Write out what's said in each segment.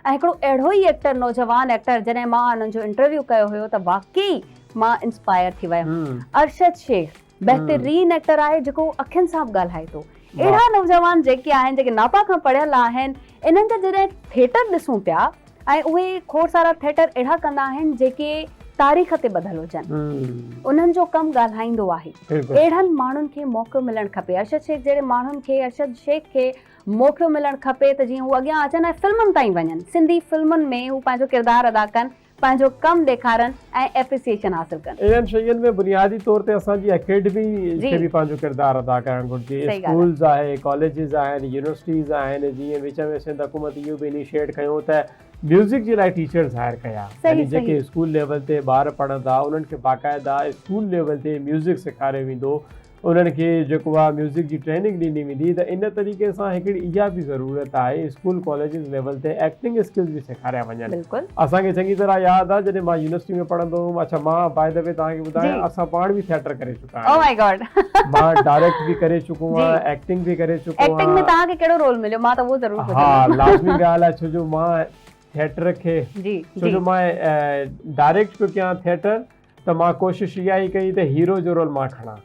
۽ هڪڙو اهڙو ئي ايڪٽر نوجوان ايڪٽر جڏهن مان انهن جو انٽرويو ڪيو هيو ته واقعي مان انسپائر ٿي ويم ارشد شيخ بهترين ايڪٽر آهي جيڪو اکين سان به ڳالهائي ٿو اهڙا نوجوان جيڪي آهن جيڪي ناپا کان پڙهيل آهن انهن جا جڏهن ٿيٽر ڏسون پيا ۽ اهي کوڙ سارا ٿيٽر اهڙا ڪندا آهن جيڪي تاريخ تي ٻڌل هجن انهن جو ڪم ڳالهائيندو آهي اهڙن ماڻهن کي موقعو ملڻ کپي ارشد شيخ جهڙي ماڻهن کي ارشد شيخ کي موقعو ملڻ کپي ته جيئن هو اڳيان اچن ۽ فلمن تائين وڃن، سنڌي فلمن ۾ هو پنهنجو ڪردار ادا ڪن، پنهنجو ڪم ڏيکارن ۽ ايپريسيئيشن حاصل ڪن. اهڙين شين ۾ بنيادي طور تي اسان جي اڪيڊمي کي به پنهنجو ڪردار ادا ڪرڻ گهرجي. اسڪولز آهي، ڪاليجز آهن، يونيورسٽيز آهن، جيئن وچ ۾ سنڌ حڪومت اهو به انيشيئيٽ ڪيو ته ميوزڪ جي لاء ٽيچرز هائر ڪيا، يعني جيڪي اسڪول ليول تي ٻار پڙهندا انهن کي باقاعده اسڪول ليول تي ميوزڪ سيکاريو ويندو، انهن کي جيڪو آهي ميوزڪ جي ٽريننگ ڏني ويندي ته ان طريقي سان هڪڙي اها به ضرورت آهي اسڪول ڪاليجز ليول تي ايڪٽنگ اسڪلز به سيکاريا وڃن اسان کي چڱي طرح ياد آهي جڏهن مان يونيورسٽي ۾ پڙهندو هوم اڇا مان باء دي وي توهان کي ٻڌايان اسان پاڻ به ٿيٽر ڪري چڪا آهيون مان ڊائريڪٽ به ڪري چڪو آهيان ايڪٽنگ به ڪري چڪو آهيان ايڪٽنگ ۾ توهان کي ڪهڙو رول مليو مان ته اهو ضرور پڇندم ها لازمي ڳالهه آهي ڇو جو مان ٿيٽر کي ڇو جو مان ڊائريڪٽ پيو ڪيان ٿيٽر ته مان ڪوشش اها ئي ڪئي ته هيرو جو رول مان کڻان.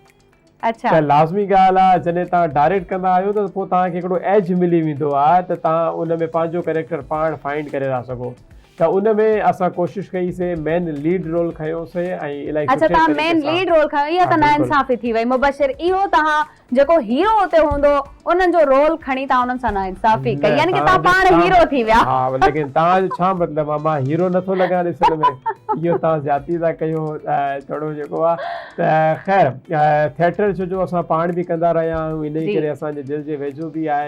اڇا. ته لازمي ڳالهه آ جڏهن توهان ڊائريڪٽ ڪندا آهيو ته پوء توهان کي هڪڙو ايج ملي ويندو آ ته توهان ان ۾ پنهنجو ڪريڪٽر پاڻ فائنڊ ڪري ٿا سگهو ته ان ۾ اسان ڪوشش ڪئي سي مين ليڊ رول کنيو سي ۽ الائي سٺي طريقي سان اڇا توهان مين ليڊ رول کنيو اها ته نا انصافي ٿي وئي مبشر اهو توهان جيڪو هيرو اتي هوندو انهن جو رول کڻي توهان انهن سان ناانصافي ڪئي يعني ڪه توهان پاڻ هيرو ٿي ويا. ها ليڪن توهان جو ڇا مطلب آهي مان هيرو نٿو لڳان اصل ۾ اهو توهان زيادتي ٿا ڪيو ٿورو جيڪو آهي ته خير ٿيٽر شو جو اسان پاڻ به ڪندا رهيا آهيون انهي ڪري اسان جي دل جي ويجهو به آهي.